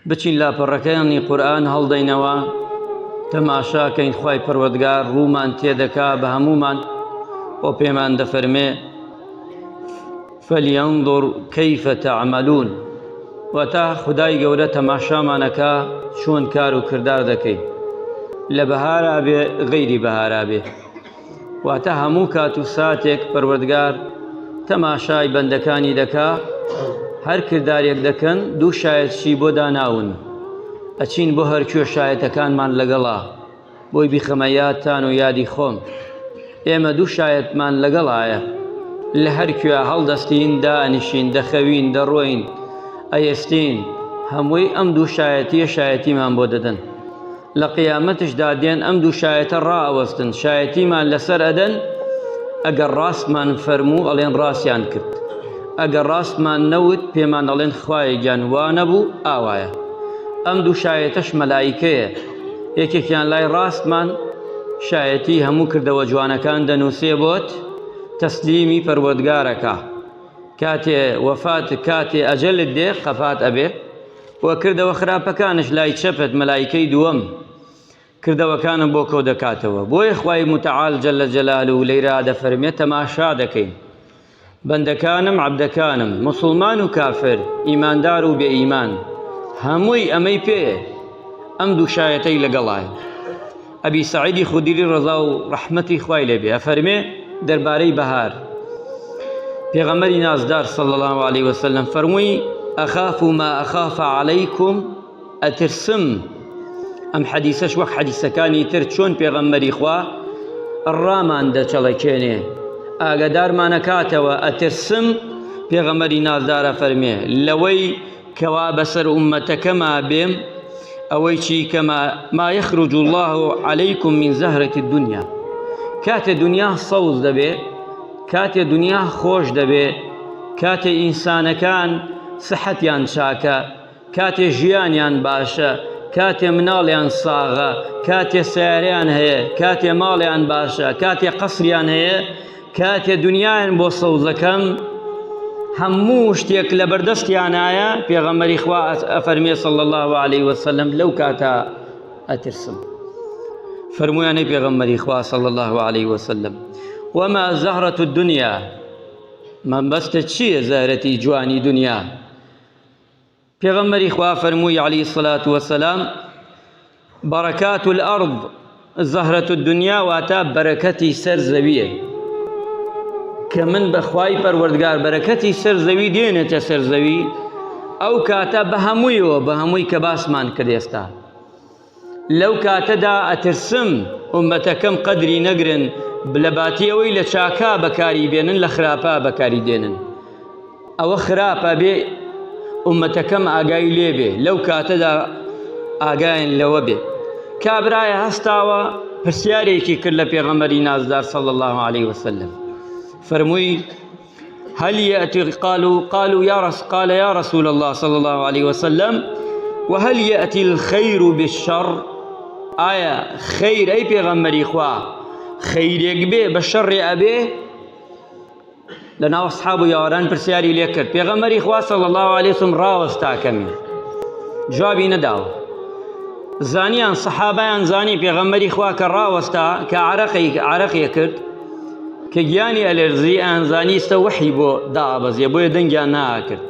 بچین لاپەڕەکانی قورئان هەڵدەینەوە تەماشا کەین خوای پەروەردگار ڕوومان تێدەکا بە هەموومان بۆ پێمان دەفەرمێ فەلیەنظر کەیفە تەعمەلون واتە خدای گەورە تەماشامانەکە چۆن کار و کردار دەکەین لە بەهارا بێ غەیری بەهارا بێ واتە هەموو کات و ساتێک پەروەردگار تەماشای بەندەکانی دەکا هەر کردارێک دەکەن دوو شایەتشی بۆ داناون ئەچین بۆ هەرکوێ شایەتەکانمان لەگەڵا بۆی بیخەمە یادتان و یادی خۆم ئێمە دوو شایەتمان لەگەڵایە لە هەرکوێ هەڵدەستین دانیشین دەخەوین دەڕۆین ئەیستین هەمووی ئەم دوو شایەتیە شایەتیمان بۆ دەدەن لە قیامەتشدا دێن ئەم دوو شایەتە ڕائەوەستن شایەتیمان لەسەر ئەدەن ئەگەر ڕاستمان فەرموو ئەڵێن ڕاستیان کرد ئەگەر ڕاستمان نەوت پێمان ئەڵێن خوایە گیان وانە بوو ئاوایە ئەم دوو شایەتەش مەلایکەیە یەکێکیان لای ڕاستمان شایەتی هەموو کردەوە جوانەکان دەنووسێ بۆت تەسلیمی پەروەردگارەکە کاتێ وەفات کاتێ ئەجەلت دێ قەفات ئەبێ و کردەوە خراپەکانش لای چەپت مەلایکەی دووەم کردەوەکانم بۆ کۆ دەکاتەوە بۆیە خوای متعال جل جلاله لەیرا دەفەرمێت تەماشا دەکەین بەندەکانم عبدەکانم مسلمان و کافر ئیماندار و بێ ئیمان هەمووی ئەمەی پێ ئەم دوو شایەتەی لەگەڵایە ئەبی سەعیدی خودری ڕەزا و ڕەحمەتی خوای لێبێ ئەفەرمێ دەربارەی بەهار پێغەمبەری نازدار صلی الله علیه وسلم فەرمووی ئەخاف ما ئەخاف علیکم ئەترسم ئەم حەدیسەش وەک حەدیسەکانی تر چۆن پێغەمبەری خوا ڕامان دەچەڵەکێنێ ئاگادارمانەکاتەوە ئەترسم پێغەمبەری نازدارە فەرمێ لەوەی کوا بەسەر ئوممەتەکەما بێم ئەوەی چی کەما ما یخرج الله علیکم من زهرة الدنیا کاتێ دنیا سەوز دەبێ کاتێ دنیا خۆش دەبێ کاتێ ئینسانەکان سەحەتیان چاکە کاتێ ژیانیان باشە کاتێ مناڵیان ساغە کاتێ سیارەیان هەیە کاتێ ماڵیان باشە کاتێ قەسریان هەیە کاتێ دنیایان بۆ سەوزەکەم هەموو شتێک لە بەردەستیانایە پێغەمەری خوا ئەفەرمێ صلی الله عليه وسلم لەو کاتە ئەترسم فەرمویانەی پێغەمەری خوا صلی الله عليه وسلم وما زهرة الدنيا مەبەستە چییە زەهرەتی جوانی دنیا پێغەمبەری خوا فەرمووی علیە الصلوة والسلام بەڕەکات الارض زەهرەت الدنیا واتا بەرەکەتی سەر زەویە کە من بەخوای پەروەردگار بەرەکەتی سەر زەوی دێنێتە سەر زەوی ئەو کاتە بە هەموویەوە بە هەمووی کە باسمان کرد ئێستا لەو کاتەدا ئەترسم ئوممەتەکەم قەدری نەگرن لە باتی ئەوەی لە چاکا بەکاری بێنن لە خراپا بەکاری دێنن ئەوە خراپە بێ ئومەتەکەم ئاگای لێ بێ لەو کاتەدا ئاگایان لەوە بێ کابرایە هەستاوە پرسیارێکی کرد لە پێغەمەری نازدار سەڵ الله عليه وسلم فەرمووی هل یئتی قالو قالو یا رس قال یا رسول اللە صلی اللە علیە وسلم و هل یئتی الخیر بالشر ئایا خیر ئەی پێغەمبەری خوا خیرێک بێ بە شەڕێ ئەبێ لە ناو اصحاب و یاوەران پرسیاری لێ کرد پێغەمبەری خوا صلی اللە علیە وسلم ڕاوەستا کەمی جوابی نەداوە زانیان صحابیان زانی پێغەمبەری خوا کە ڕاوەستا کە عرەقی عرەقی کرد کە گیانی ئەلێرزی ئەیانزانی ئیستە وەحی بۆ دائەبەزێ بۆیە دەنگیان ناکرد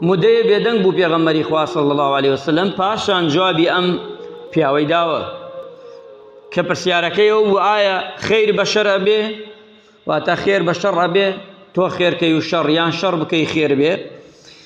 مدەیە بێدەنگ بوو پێغەمبەری خوا صلی الله علیه وسلم پاشان جوابی ئەم پیاوەی داوە کە پرسیارەکەی ئەو بوو ئایا خیر بە شەر ئەبێ واتە خێر بە شەڕ ئەبێ تۆ خێرکەی و شەڕ یان شەڕ بکەی خێر بێ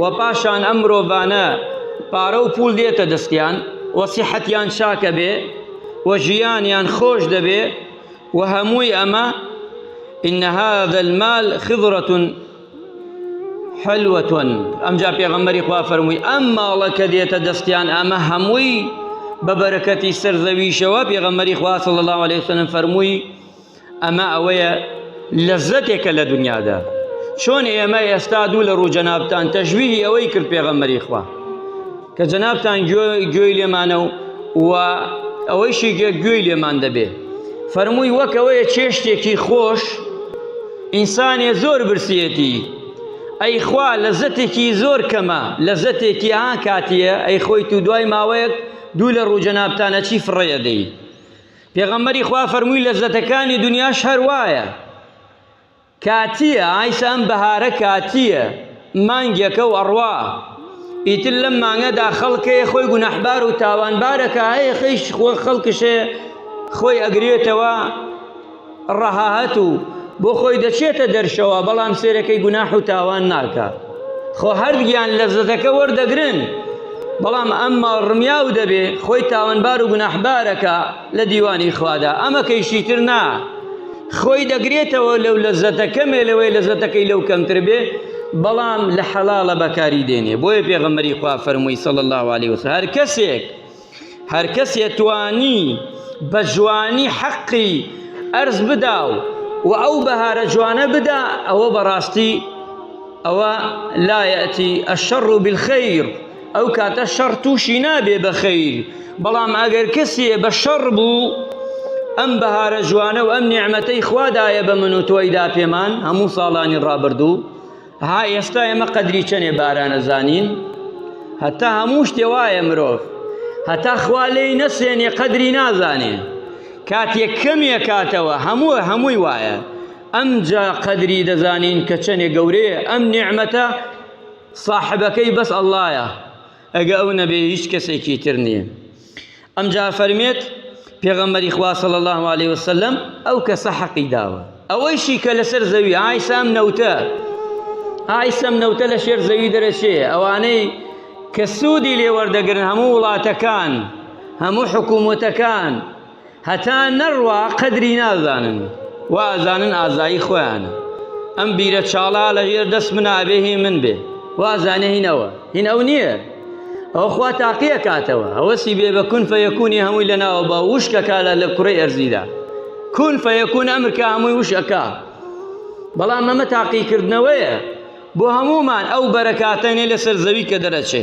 و پاشان ئەم مرۆڤانە پارە و پول دێتە دەستیان و سیحەتیان چاکە بێ و ژیانیان خۆش دەبێ و هەمووی ئەمە إن هذا المال خضرة حلوتون ئەمجا پێغەمبەری خوا فەرمووی ئەم ماڵە کە دێتە دەستیان ئەمە هەمووی بە بەرەکەتی سەرزەویشەوە پێغەمبەری خوا صلی الله عليه وسلم فەرمووی ئەمە ئەوەیە لەزەتێکە لە دنیادا چۆن ئێمە ئێستا دوو لە ڕوو جەنابتان تەژویی ئەوەی کرد پێغەمەری خوا کە جەنابتان گوێی لێمانە و و ئەوەیشی گوێ گوێی لێمان دەبێ فەرمووی وەکەوەیە چێشتێکی خۆش ئینسانێ زۆر برسێتی ئەیخوا لەزەتێکی زۆر کەمە لەزەتێکی ها کاتیە ئەی خۆی تو دوای ماوەیەک دوو لە ڕوو جەنابتانە چی فڕەیە دەی پێغەمبەری خوا فەرمووی لەزەتەکانی دنیاش هەر وایە کاتیە ئایسە ئەم بەهارە کاتیە مانگێکە و ئەڕوا ئیتر لەم مانگەدا خەڵکەیە خۆی گونەحبار و تاوانبارەکە هەیە خەیش خۆ خەڵکشێ خۆی ئەگرێتەوە ڕەهات و بۆ خۆی دەچێتە دەرشەوە بەڵام سێرەکەی گوناح و تاوان ناکە خۆ هەردگیان لەزەتەکە وەردەگرن بەڵام ئەم ماڵ ڕمیا و دەبێ خۆی تاوانبار و گوناحبارەکە لە دیوانی خوادا ئەمەکەیشی تر نا خۆی دەگرێتەوە لەو لەزەتە کەمێ لەوەی لەزەتەکەی لەو کەمتر بێ بەڵام لە حەڵاڵە بەکاری دێنێ بۆیە پێغەمەری خوا فەرمووی سەڵ الله عليه وسلم هەر کەسێک هەر کەسێ توانی بە جوانی حەقی ئەرز بدا و و ئەو بەهارە جوانە بدا ئەوە بەڕاستی ئەوە لا یەتی الشر بالخیر ئەو کاتە شەڕ تووشی نابێ بە خیر بەڵام ئەگەر کەسێ بە شەڕ بوو ئەم بەهارە جوانە و ئەم نیعمەتەی خوادایە بە من و تۆیدا پێمان هەموو ساڵانی ڕابردوو ها ئێستا ئێمە قەدری چەنێ بارانە زانین هەتا هەموو شتێ وایە مرۆڤ هەتا خوا لێی نەسێنێ قەدری نازانێ کاتێک کەمێ کاتەوە هەموو هەمووی وایە ئەمجا قەدری دەزانین کە چەنێ گەورەیە ئەم نیعممەتە صاحبەکەی بەس ئەللایە ئەگە ئەو نەبێ هیچ کەسێکی تر نییە. ئەمجا فەرمێت، پێغەمبەری خوا صلی اللە علیە وسلم ئەو کەسە حەقی داوە. ئەوەیشی کە لەسەر زەوی، ئایسە ئەم نەوتە، ئایسە ئەم نەوتە لەشێر زەوی دەرەچێ، ئەوانەی کە سوودی لێ وەردەگرن هەموو وڵاتەکان، هەموو حکوومەتەکان، هەتا نەڕوا قەدری نازانن وازانن ئازایی خۆیانە ئەم بیرە چاڵە لە ژێر دەست منا ئەبێ هی من بێ وازانێ هین ئەوە هین ئەو نییە ئەو خوا تاقیە کاتەوە ئەوەسی بێ بە کون فەیەکونی هەمووی لەناوە بە وشکەکە لە لە کوڕی ئەرزیدا کون فەیەکون ئەمرکە هەمووی وشەکە بەڵام ئەمە تاقیکردنەوەیە بۆ هەمومان ئەو بەرەکاتەنێ لەسەر زەوی کە دەرەچێ